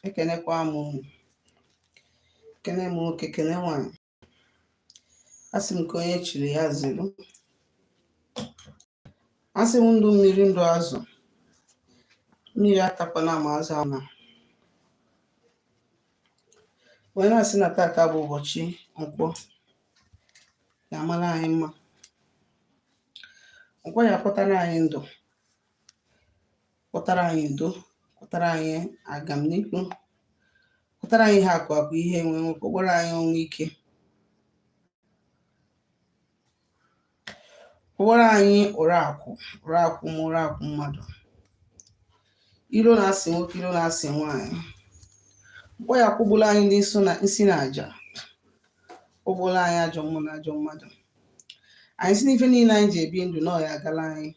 ekenekwa m unu ekene m nwoke kene nwanyị asị m nke onye chiri ya zeru asị m ndụ mmiri ndụ azụ mmiri atakwana ma azụ anwụna wee na-asị na tata bụ ụbọchị nkwọ ya amara anyị mma nkwọ ya akwọtara anyị ndụ kwọtara anyị udo kwọtara anyị agamnihu kwọtara anyị ihe akụ akụ ihe enwe enwe kwụgbuoro anyị ọnwụ ike kwụgbuoro anyị ụra akwụ ma ụra akwụ mmadụ iro na-asị nwoke iro na-asị nwaanyị nkwọ ya kwụgbuoro anyị nsi na aja kwụgbuoro anyị ajọ mmụọ na ajọ mmadụ anyị sị n'ife niile anyị ji ebi ndụ na ọ ya-agara anyị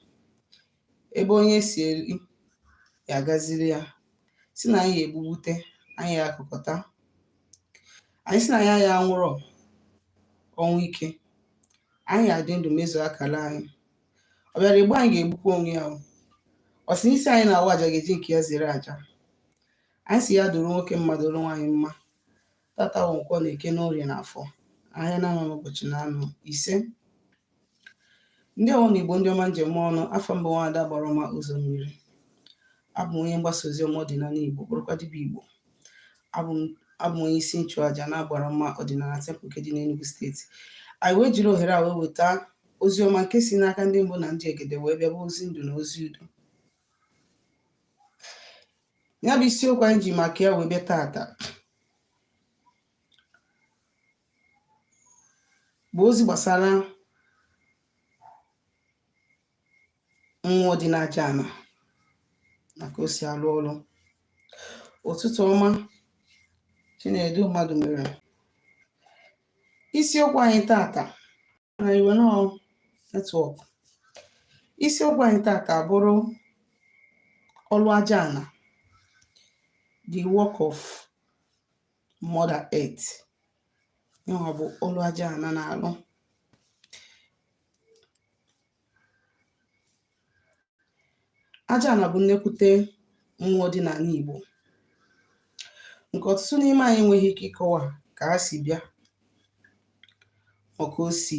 ebe onye si eri ya agaziri ya sị na anyị ya-egbubute anyị ya-akụkọta anyị sị na anyị aya anwụrọ ọnwụ ike anyị ya-adị ndụ mezuo akara anyị ọ bịara egbu anyị ga-egbukwa onwe ya ọ sị n'isi anyị na-awa aja ga-eji nke ya zere aja anyị sị ya dụrụ nwoke mma dụrụ nwaanyị mma tata wụ nkwọ na eke na orie na afọ ahịa na-anọ ụbọchị na-anọ isee ndeewonụ igbo ndị ọma ndeewonụ afa m bụ nwaada agbara ọma ụzọ mmiri abụ m onye mgbasa ozi ọma ọdịnana igbo bụrụkwa dibịa igbo abụ m onye isi nchụaja na agbara ọma ọdịnana temple nke dị n'Enugu steeti anyị wee jiri ohere a wee weta ozi ọma nke si n'aka ndị mbụ na ndị egede wee bịa bụ ozi ndụ na ozi udo ya bụ isiokwu anyị ji maka ya wee bịa tata bụ ozi gbasara mmụọ dị n'aja ana ma ka o si alụ ọrụ ụtụtụ ọma chinedu mmadụmere isiokwu anyị tata na enwerọ network isiokwu anyị tata bụrụ ọlụ aja ana the work of mother earth yanwa bụ ọlụ aja ana na-alụ aja ana bụ nnekwute mmụọ dị n'ana Igbo nke ọtụtụ n'ime anyị enweghị ike ịkọwa ka ha si bịa ma ka o si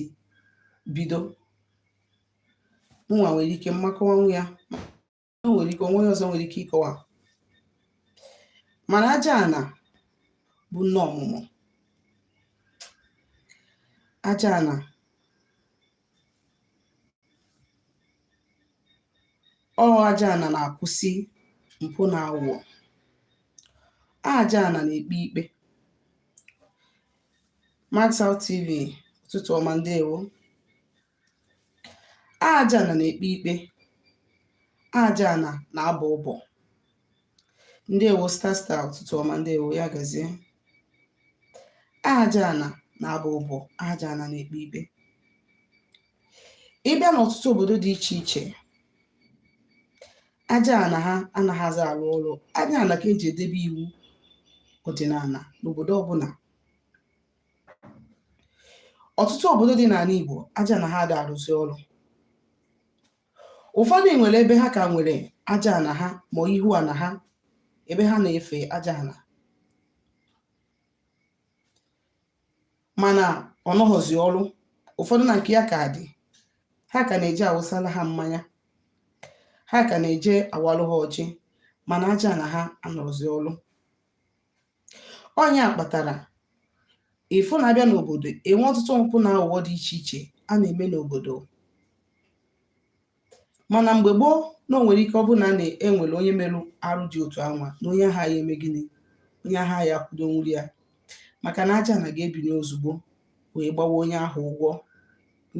bido mụnwa nwere ike m ma akọwanwu ya o nwere ike onye ọzọ nwere ike ịkọwa mana aja ana bụ nne ọmụmụ aja ana ọ aja ana na-akwụsị mpụ na aghụghọ aja ana na-ekpe ikpe Maxout TV ụtụtụ ọma ndewo aja ana na-ekpe ikpe aja ana na-abọ ụbọ ndewo star star ụtụtụ ọma ndewo ya gazie aja ana na-abọ ụbọ aja ana na-ekpe ikpe ị bịa n'ọtụtụ obodo dị iche iche aja ana ha anaghịzi arụ ọrụ aja ana ka eji edebe iwu ọdịnana n'obodo ọbụla ọtụtụ obodo dị n'ana Igbo aja ana ha ada arụzi ọrụ ụfọdụ nwere ebe ha ka nwere aja ana ha ma ihu ana ha ebe ha na-efe aja ana mana ọ nọghọzi ọrụ ụfọdụ na nke ya ka dị ha ka na-eje awụsala ha mmanya ha ka na-eje awalụ ha ọjị mana aja ana ha anọrọzi ọrụ ọ nya kpatara ị fụ na a bịa n'obodo enwe ọtụtụ mpụ na aghụghọ dị iche iche a na-eme n'obodo mana mgbe gboo na o nwere ike ọ bụrụ na a na-enwere onye merụ arụ dị otu anwa na onye ahụ ya-eme gịnị onye ahụ ya-akwụdo nwụrịa maka na aja ana ga-ebinye ozugbo wee gbawa onye ahụ ụgwọ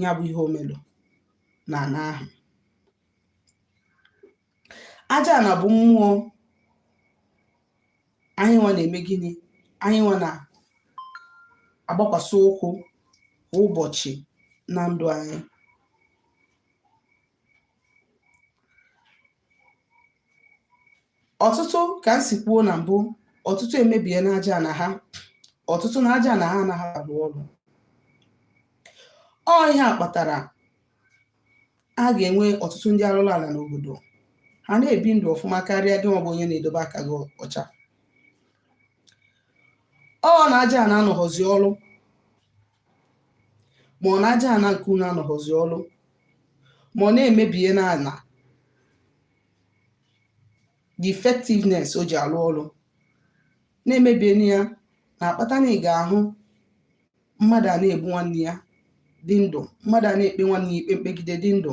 ya bụ ihe o merụ na ana ahụ aja ana bụ mmụọ anyị nwa na-eme gịnị anyị nwa na-agbakwasị ụkwụ kwa ụbọchị na ndụ anyị ọtụtụ ka m si kwuo na mbụ ọtụtụ emebiena aja ana ha ọtụtụ na aja ana ha anaghị arụ ọrụ ọ ihe a kpatara a ga-enwe ọtụtụ ndị arụrụ ala n'obodo ha na-ebi ndụ ọfụma karịa gị nwa bụ onye na-edobe aka gị ọcha ọ na aja ana anọghọzi ọrụ ma ọ na aja ana nke unu anọghọzi ọrụ ma ọ na e mebiena ana the effectiveness o ji arụ ọrụ na e mebiena ya na-akpata na ị ga-ahụ mmadụ a na-egbu nwanne ya dị ndụ mmadụ a na-ekpe nwanne ya ikpe mkpegide dị ndụ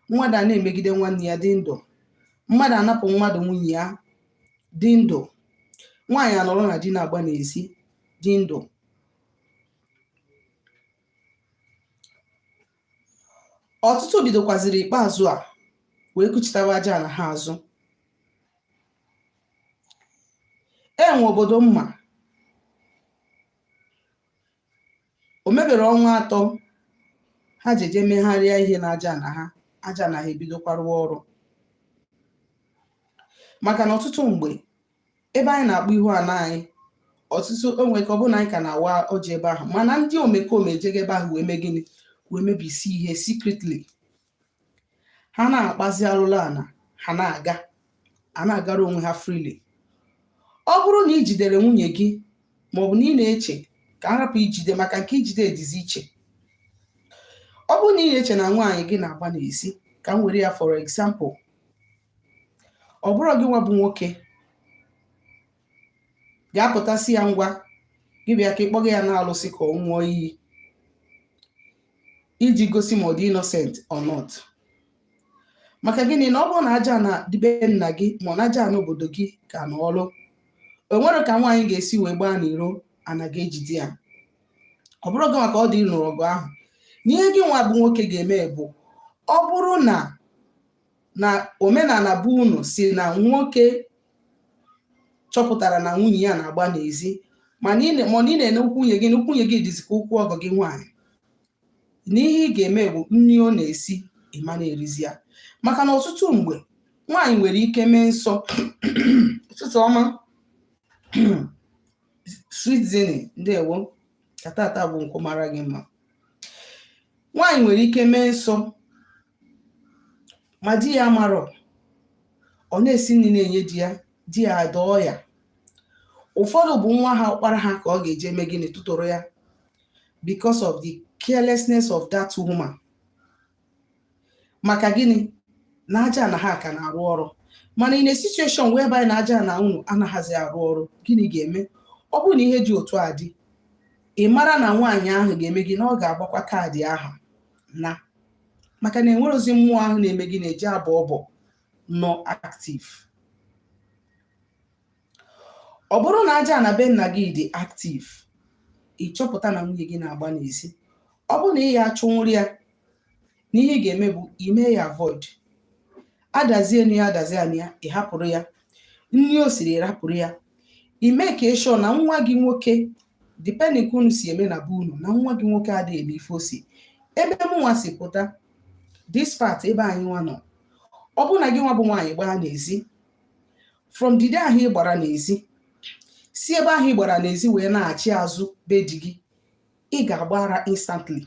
mmadụ a na-emegide nwanne ya dị ndụ mmadụ anapụ mmadụ nwunye ya dị ndụ nwaanyị anọrọ na di na-agba n'ezi dị ndụ ọtụtụ bidokwaziri ikpeazụ a wee kuchitawa aja ana ha azụ enwe obodo mma o meberọ ọnwa atọ ha ji eje megharịa ihe na aja ana ha aja ana ha ebidokwa rụwa ọrụ maka na ọtụtụ mgbe ebe anyị na-akpọ ihu ana anyị ọtụtụ onwe ka ọ bụrụ na anyị ka na-awa ọjị ebe ahụ mana ndị omekome ejego ebe ahụ wee mee gịnị wee mebisi ihe secretly ha na-akpazi alụlụ ana ha na-aga a na-agara onwe ha freely ọ bụrụ na ị jidere nwunye gị maọbụ na ị na-eche ka m rapụ ijide maka nke ijide dịzi iche ọ bụrụ na ị na-eche na nwaanyị gị na-agba n'ezi ka m were ya for example ọ bụrụ gị nwa bụ nwoke ga-apụta sị ya ngwa gị bịa ka ị kpọga ya na alụsị ka ọ ṅụọ iyi iji gosi ma ọ dị innocent or not maka gịnị na ọ bụrụ na aja ana dị be nna gị maọbụ na aja ana obodo gị ka na ọrụ o nwere ka nwaanyị ga-esi wee gbaa n'iro ana ga-ejide ya ọ bụrọ gị nwa ka ọ dị ịnụrụ ọgụ ahụ na ihe gị nwa bụ nwoke ga-eme bụ ọ bụrụ na na omenana be unu sị na nwoke chọpụtara na nwunye ya na-agba n'ezi mana ị na-ene ụkwụ nwunye gị na ụkwụ nwunye gị dịzi ka ụkwụ ọgọ gị nwaanyị na ihe ị ga-eme bụ nni ọ na-esi ị ma na-erizi ya maka na ọtụtụ mgbe nwaanyị nwere ike mee nsọ ụtụtụ ọma sweet zini ndewo ka tata bụ nkwọ mara gị mma nwaanyị nwere ike mee nsọ ma di ya amarọ ọ na-esi nni na-enye di ya di ya adọọ ya ụfọdụ bụ nwa ha ọkpara ha ka ọ ga-eji eme gịnị tụtụrụ ya because of the carelessness of that woman maka gịnị na aja ana ha ka na-arụ ọrụ mana in a situation whereby na aja ana unu anaghịzi arụ ọrụ gịnị ga-eme ọ bụrụ na ihe dị otu a dị ị mara na nwaanyị ahụ ga-eme gịnị ọ ga-agbakwa ka ọ dị ahụ naa maka na e nwerọzi mmụọ ahụ na-eme gịnị na-eje abọ ọbọ nọ active ọ bụrụ na aja ana be nna gị dị active ị chọpụta na nwunye gị na-agba n'ezi ọ bụrụ na ị ya achụnwurọ ya na ihe ị ga-eme bụ ime ya avoid adazie enu ya adazie anụ ya ị hapụrụ ya nni o siri rapụrụ ya ị make sure na nwa gị nwoke depending ka unu si eme na be unu na nwa gị nwoke adịghị eme ife o si ebe m nwa si pụta this part ebe anyị nwa nọ ọ bụrụ na gị nwa bụ nwaanyị gbaa n'ezi from the day ahụ ị gbara n'ezi si ebe ahụ ị gbara n'ezi wee nachi azụ be di gị ị ga-agba ara instantly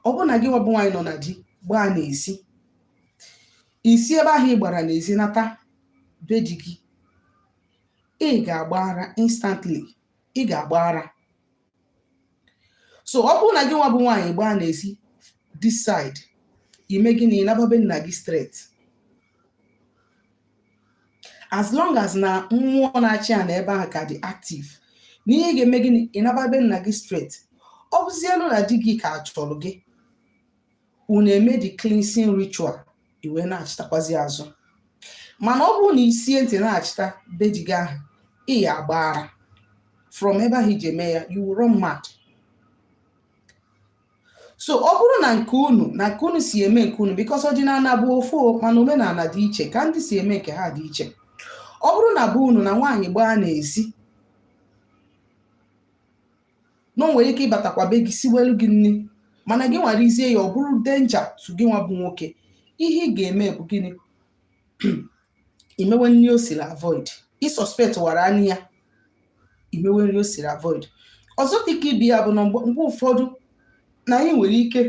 ọ bụrụ na gị nwa bụ nwaanyị nọ na di gbaa n'ezi i si ebe ahụ ị gbara n'ezi nata be di gị ị ga-agba ara instantly ị ga-agba ara so ọ bụrụ na gị nwa bụ nwaanyị gbaa n'ezi this side i mee gịnị naba be nna gị straight as long as na mmụọ na-achị ana ebe ahụ ka dị active n'ihe ga-eme gịnị ị naba be nna gị straight ọ bụzielu na di gị ka chọrọ gị unu emee the cleansing ritual i wee nachitakwazi azụ mana ọ bụrụ na i sie ntị nachita be di gị ahụ ị ya agba ara from ebe ahụ i ji eme ya you will run mad so ọ bụrụ na nke unu na nke unu si eme nke unu because ọdịnana bụ ofu o, mana omenana dị iche ka ndị si eme nke ha dị iche ọ bụrụ na be unu na nwaanyị gbaa n'ezi na o nwere ike ịbatakwa be gị siwelu gị nri mana gị nwa rizie ya ọ bụrụ danger to gị nwa bụ nwoke ihe ị ga-eme bụ gịnị i mewe nri o siri avoid ị suspect wara anya ya i mewe nri o siri avoid ọzọ dị ka ibe ya bụ na mgbe ụfọdụ na anyị nwere ike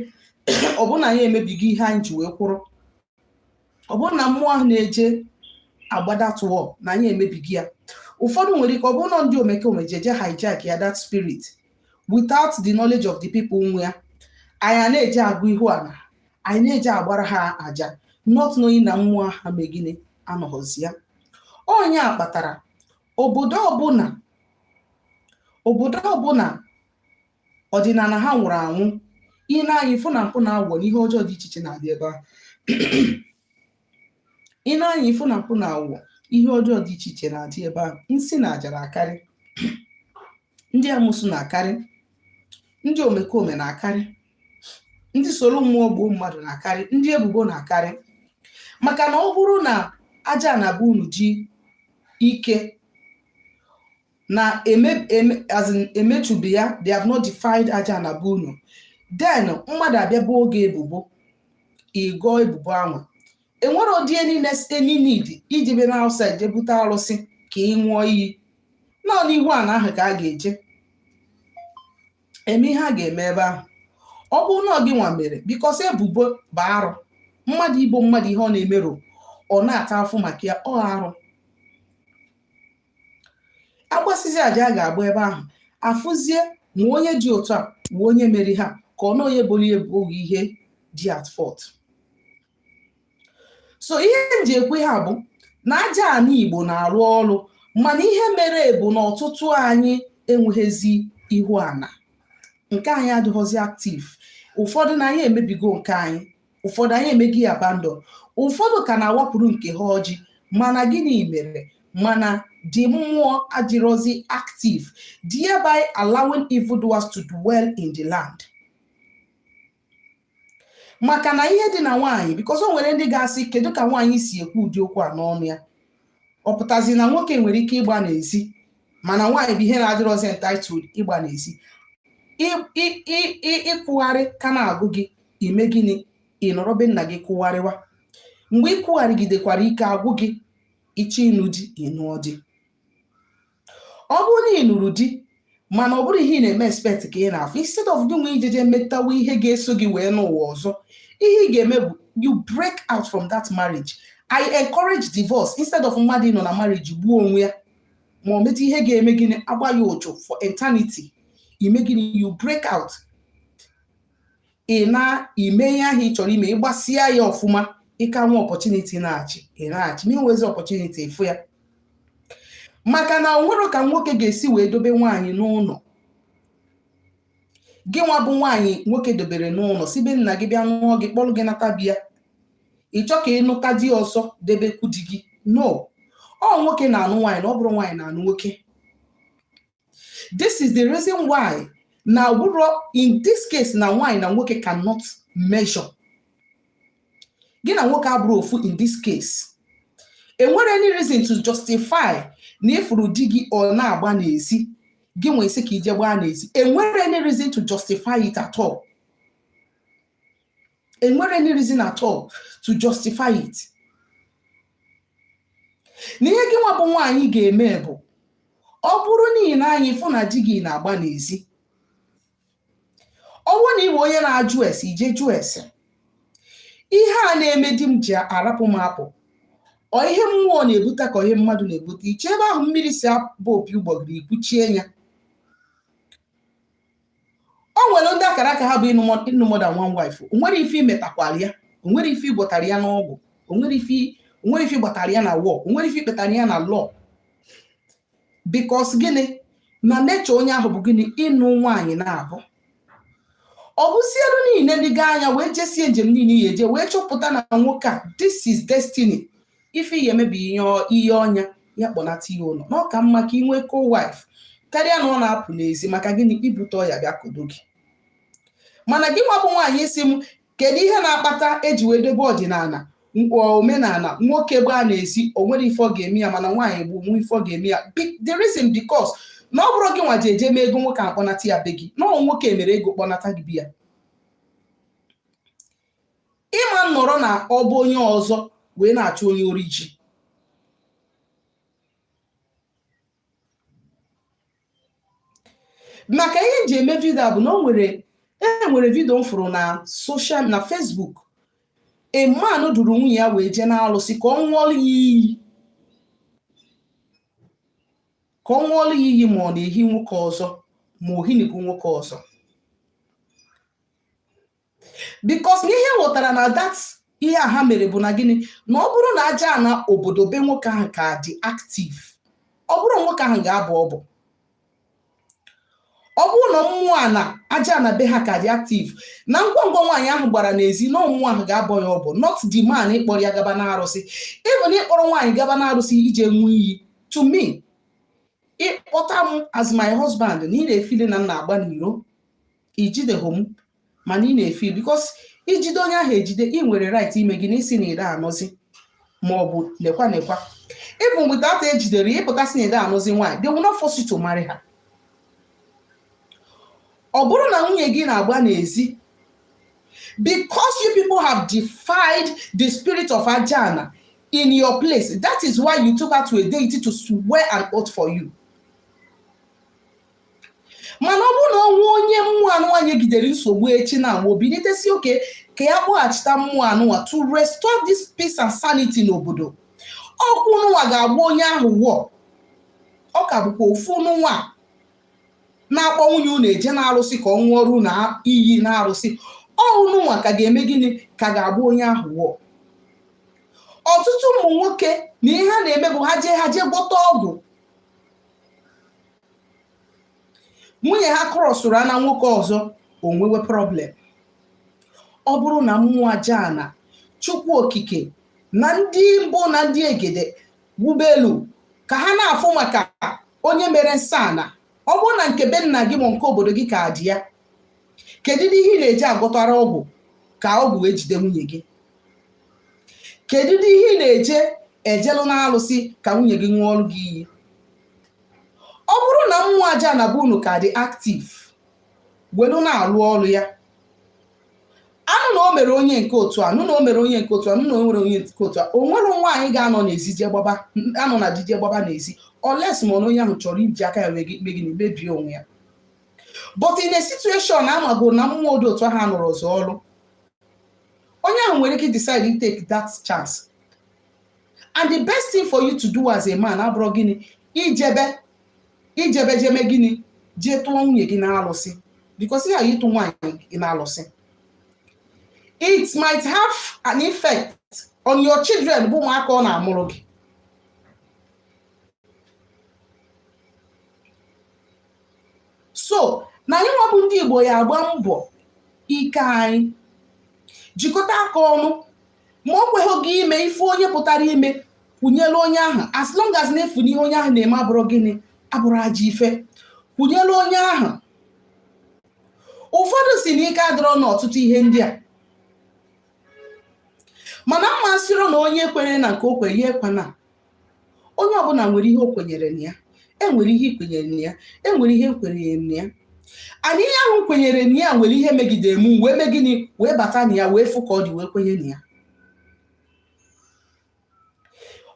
ọ bụrụ na anyị emebigo ihe anyị ji wee kwụrụ ọ bụrụ na mmụọ ahụ na-eje agbada tụọ na anyị emebigo ya ụfọdụ nwere ike ọ bụrụ na ndị omekome ji eje hijack ya that spirit without the knowledge of the people nwe ya anyị na-eje agọ ihu ana anyị na-eje agbara ha aja not knowing na mmụọ ahụ mee gịnị anọghọzi ya ọ nya kpatara obodo ọbụla obodo ọbụla ọdịnana ha nwụrụ anwụ i nee anya ị fụ na mpụ na awụwọ na ihe ọjọọ dị iche iche na-adị ebe ahụ i nee anya ị fụ na mpụ na awụwọ ihe ọjọọ dị iche iche na-adị ebe ahụ nsị na aja na-akarị ndị amusu na-akarị ndị omekome na-akarị ndị soro mmụọ gbuo mmadụ na-akarị ndị ebubo na-akarị maka na ọ bụrụ na aja ana be unu ji ike na eme eme as in emechubi ya they have not defiled aja ana be unu then mmadụ abịa boo gị ebubo ị gọọ ebubo ahụ e nwerọdị any need ijebe na outside je bute arụsị ka ị ṅụọ iyi na ọ n'ihu ana ahụ ka a ga-eje eme ihe a ga-eme ebe ahụ ọ bụrụ na ọ gị nwa mere because ebubo bụ arụ mmadụ ibo mmadụ ihe ọ na-emerọ ọ na-ata afụfụ maka ya ọ arụ agbasizi aja a ga-agba ebe ahụ afụzie ma onye dị otu a ma onye meri ha ka ọ na onye bụrụ ya ebughị ihe dị at fault so ihe m ji ekwe ha bụ na aja ana igbo na-arụ ọrụ mana ihe mere bụ na ọtụtụ anyị enweghịzi ihu ana nke anyị adịrọzi active ụfọdụ na anyị emebigo nke anyị ụfọdụ anyị emego ya abandon ụfọdụ ka na-awapụrụ nke ha ọjị mana gịnị mere mana the mmụọ adịrọzi active thereby allowing evildoers to dwell in the land maka na ihe dị na nwaanyị because o nwere ndị ga-asị kedu ka nwaanyị si ekwu ụdị okwu a n'ọnụ ya ọ pụtazi na nwoke nwere ike ịgba n'ezi mana nwaanyị bụ ihe na-adịrọzi entitled ịgba n'ezi ịkwụgharị ka na-agụ gị i mee gịnị ị nọrọ be nna gị kwụgharịwa mgbe ị kwụgharịgidekwara ike agwụ gị ị chọọ ịnụ di ị nụọ di ọ bụrụ na ị nụrụ di mana ọ bụrọ ihe ị na-eme expect ka ị na-afụ instead of gị nwa ijeje metawa ihe ga-eso gị wee n'ụwa ọzọ ihe ị ga-eme bụ you break out from that marriage i encourage divorce instead of mmadụ ịnọ na marriage gbuo onwe ya ma o meta ihe ga-eme gịnị agba ya ụchụ for eternity i mee gịnị you break out ị naa i mee ihe ahụ ị chọrọ ime ị gbasịa ya ọfụma ị ka nwee opportunity ịnachi ị nachi ma i nwezi opportunity ị fụ ya maka na o nwerọ ka nwoke ga-esi wee dobe nwaanyị n'ụnọ gị nwa bụ nwaanyị nwoke dobere n'ụnọ si be nna gị bịa nụọ gị kpọrọ gị nata bịa ị chọọ ka ị nụta di ọzọ debekwu di gị no ọ nwoke na-anụ nwaanyị na ọ bụrọ nwaanyị na-anụ nwoke this is the reason why na ọ bụrụ in this case na nwaanyị na nwoke cannot measure gị na nwoke abụrọ ofu in this case enwerọ any reason to justify na ị fụrụ di gị ọ na-agba n'ezi gị nwa ị sị ka i je gbaa n'ezi enwerọ any reason to justify it at all enwerọ any reason at all to justify it na ihe gị nwa bụ nwaanyị ga-eme bụ ọ bụrụ na i nee anya ị fụ na di gị na-agba n'ezi ọ bụrụ na ị bụ onye na-ajụ ese i je jụọ ese ihe a na-eme di m ji arapụ m apụ ọ ihe mmụọ na-ebute ka ihe mmadụ na-ebute ị chọọ ebe ahụ mmiri si aba opi ụgbọgịrị i kwuchie ya o nwere ndị akara aka ha bụ ịnụ mọ- ịnụ more than one wife o nwerọ ife i metakwara ya o nwerọ ife ị gwọtara ya n'ọgwụ o nwerọ ife o nwerọ ife ị gbatara ya na war o nwerọ ife i kpetara ya na law because gịnị na nature onye ahụ bụ gịnị ịnụ nwaanyị naabọ ọ bụzielu niile ndị gaa anya wee jesie njem niile ị ya-eje wee chọpụta na nwoke a this is destiny ife ihe emebi ihe ọnya ya kpọnata ihe ụlọ na ọ ka mma ka ị nwee co-wife karịa na ọ na-apụ n'ezi maka gịnị ibute ọya bịa kodo gị mana gị nwa bụ nwaanyị ị sị m kedu ihe na-akpata eji wee dobe ọdịnala omenala nwoke gbaa n'ezi o nwere ife ga-eme ya mana nwaanyị bụ nwa ife ga-eme ya the reason because na ọ bụrọ gị nwa ji eje mee ego nwoke kpọnata ya be gị na ọ nwoke mere ego kpọnata gị be ya ị ma nọrọ n'ọba onye ọzọ wee na-achụ onye ori ji maka ihe m ji eme video a bụ na o nwere e nwere video m fụrụ na social na facebook a man duru nwunye ya wee jee n'alụsị ka ọ ṅụọlụ ya iyi ka ọ ṅụọlụ ya iyi ma ọ na-ehi nwoke ọzọ ma o hinigo nwoke ọzọ because na ihe ghọtara na that ihe a ha mere bụ na gịnị na ọ bụrụ na aja ana obodo be nwoke ahụ ka dị active ọ bụrọ nwoke ahụ ga-abọ ọbọ ọ bụrụ na mmụọ ana aja ana be ha ka dị active na ngwa ngwa nwaanyị ahụ gbara n'ezi na ọ mmụọ ahụ ga-abọ ya ọbọ not the man ịkpọrọ ya gaba n'arụsị even ịkpọrọ nwaanyị gaba n'arụsị ije ṅụọ iyi to me ị kpọta m as my husband na ị na-efili na m na-agba n'iro i jideghị m mana ị na-efili because i jide onye ahụ ejide ị nwere right ime gịnị ịsị na ị dị anụzi ma ọ bụ nekwa nekwa even without ejidere ya ị pụta sị na ị dị anụzi nwaanyị they will not force you to marry her ọ bụrụ na nwunye gị na-agba n'ezi because you people have defied the spirit of ajana in your place that is why you took her to a deity to swear an oath for you mana ọ bụrụ na o nwee onye mmụọ anụwa nyegidere nsogbu echi na agba o binite sị okay ka ya kpọghachita mmụọ anụwa to restore this peace and sanity n'obodo ọ kwa unu nwa ga-agba onye ahụ wọ ọ ka bụkwa ofu unu nwa na-akpọ nwunye unu eje n'arụsị ka ọ ṅụọrụ unu iyi n'arụsị ọ bụ unu nwa ka ga-eme gịnị ka ga-agba onye ahụ wọ ọtụtụ ụmụ nwoke na ihe ha na-eme bụ ha jee ha jee gwọta ọgwụ nwunye ha krọsụrụ ana nwoke ọzọ o nwewe problem ọ bụrụ na mmụọ aja ana chukwu okike na ndị mbụ na ndị egede wubelu ka ha na-afụ maka onye mere nsọ ana ọ bụrụ na nke be nna gị ma nke obodo gị ka dị ya kedu ihe ị na-eje agwọtara ọgwụ ka ọgwụ wee jide nwunye gị kedu ihe ị na-eje ejelụ n'alụsị ka nwunye gị ṅụọrụ gị iyi ọ bụrụ na mmụọ aja ana be unu ka dị active welu na-alụ ọrụ ya anụ na o mere onye nke otu a nụ na o mere onye nke otu a nụ na o nwere onye nke otu a o nwere nwaanyị ga-anọ n'ezi je gbaba anọ na di je gbaba n'ezi unless ma na onye ahụ chọrọ iji aka ya mee gịnị mebie onwe ya but in a situation amago na mmụọ dị otu ahụ anọrọzị ọrụ onye ahụ nwere ike decide to take that chance and the best thing for you to do as a man abụrụ gịnị ijebe ijebe je mee gịnị jee tụọ nwunye gị n'alụsị because ya ịtụ nwaanyị gị n'alụsị it might have an effect on your children bụ ụmụaka ọ na-amụrụ gị so na anyị nwa bụ ndị Igbo ya agba mbọ ike anyị jikọta aka ọnụ ma o kweghị gị ime ife onye pụtara ime kwụnyelu onye ahụ as long as na ị fụ na ihe onye ahụ na-eme abụrọ gịnị abụrọ ajọ ife kwụnyelu onye ahụ ụfọdụ sị na ike adịrọ n'ọtụtụ ihe ndị a mana mụ asịrọ na onye kwere na nke o kwere ya ekwena onye ọbụla nwere ihe o kwenyere na ya enwere ihe i kwenyere na ya enwere ihe m kwenyere na ya and ihe ahụ kwenyere na ya nwere ihe megidere m wee mee gịnị wee bata na ya wee fụ ka ọ dị wee kwenye na ya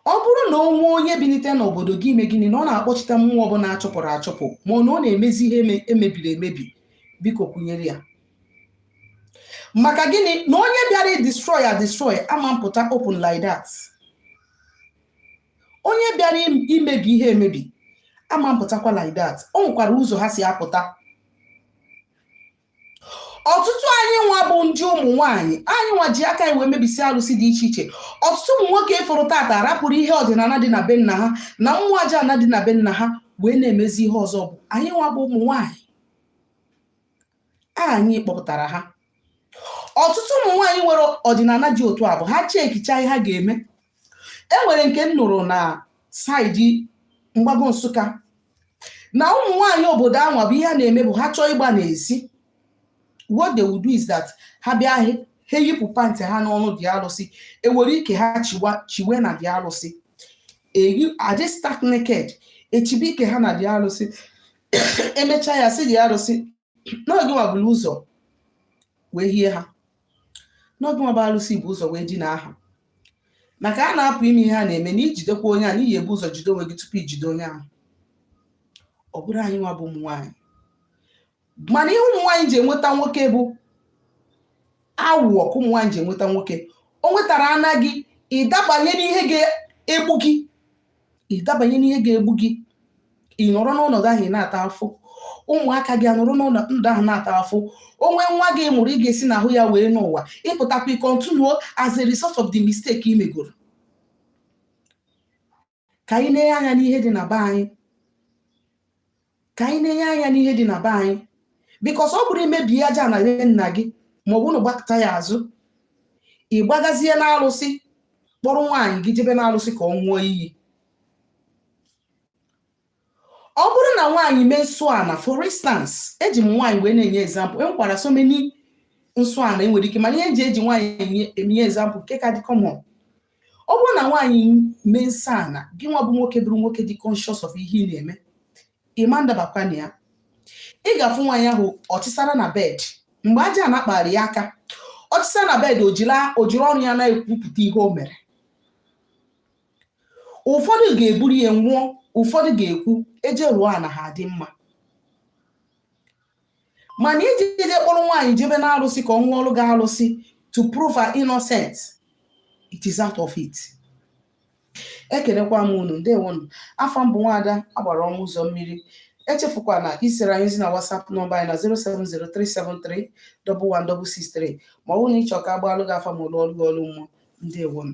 ọ bụrụ na o nwee onye binite n'obodo gị ime gịnị na ọ na-akpọchite mmụọ ọbụla achụpụrụ achụpụ ma ọ na ọ na-emezi ihe e mebiri emebi biko kwụnyere ya maka gịnị na onye bịara destroy ya destroy ama mpụta open like that onye bịara imebi ihe emebi ama mpụtakwa like that o nwekwara ụzọ ha si apụta ọtụtụ anyị nwa bụ ndị ụmụ nwaanyị anyị nwa ji aka anyị wee mebisi alụsị dị iche iche ọtụtụ ụmụ nwoke ị fụrụ tata rapụrụ ihe ọdịnana dị na be nna ha na mmụọ aja ana dị na be nna ha wee na-emezi ihe ọzọ bụ anyị nwa bụ ụmụ nwaanyị anyị kpọpụtara ha ọtụtụ ụmụ nwaanyị nwere ọdịnana dị otu a bụ ha chekicha ihe ha ga-eme e nwere nke m nụrụ na side mgbago nsụka na ụmụ nwaanyị obodo anwa bụ ihe ha na-eme bụ ha chọọ ịgba n'ezi what they will do is that ha bịa ha eyipụ pantị ha n'ọnụ the alụsị ewere ike ha chiwe na the alụsị adị stark naked echibe ike ha na the alụsị emechaa ya sị the arụsị na ọ gị nwa buru ụzọ wee hie ha na ọ gị nwa bụ arụsị bu ụzọ wee dinaa ha maka ha na-apụ ime ihe ha na-eme na i jidekwa onye a na ị ya-ebu ụzọ jide onwe gị tupu i jide onye ahụ ọ bụrụ anyị nwa bụ ụmụ nwaanyị mara ihe ụmụ nwaanyị ji enweta nwoke bụ awụwọ ka ụmụ nwaanyị ji enweta nwoke o nwetara anaghị ịdabanye n'ihe ga-egbu gị ịdabanye n'ihe ga-egbu gị ị nọrọ n'ọnọdụ ahụ ị na-ata afụ ụmụaka gị anọrọ n'ọnọdụ ahụ na-ata afụ o nwee nwa gị mụrụ ị ga-esi n'ahụ ya wee nọ ụwa ị pụtakwa ị kọntinuo as a result of the mistake ị megoro ka anyị na-enye anya n'ihe dị na be anyị ka anyị na-enye anya n'ihe dị na be anyị because ọ bụrụ i mebie aja ana be nna gị ma ọ bụ na gbakụta ya azụ ị gbagazie n'arụsị kpọrọ nwaanyị gị jebe n'arụsị ka ọ ṅụọ iyi ọ bụrụ na nwaanyị mee nsọ ana for instance eji m nwaanyị wee na-enye example e nwekwara so many nsọ ana e nwere ike mana ihe m ji eji nwaanyị enye example nke ka dị common ọ bụrụ na nwaanyị mee nsọ ana gị nwa bụ nwoke bụrụ nwoke dị conscious of ihe ị na-eme ị ma ndabakwa na ya ị ga-afụ nwaanyị ahụ ọ chịsara na bed mgbe aja ana kpara ya aka ọ chịsara na bed o jiri ọnụ ya na-ekwupụta ihe o mere ụfọdụ ga-eburu ya nwụọ ụfọdụ ga-ekwu e je rụọ ana ha adị mma mana ijide kpọrọ nwaanyị jebe na arụsị ka ọ ṅụọrọ gị arụsị to prove her innocent it is out of it ekenekwa m unu ndewonụ afa m bụ nwaada agbara ọnụ ụzọ mmiri echefukwana iziere anyị ozi na WhatsApp nọmba anyị na 07037311663 ma ọ bụrụ na ị chọọ ka a gbaalụ gị afa ma lụọlụ gị ọrụ mmụọ ndewonụ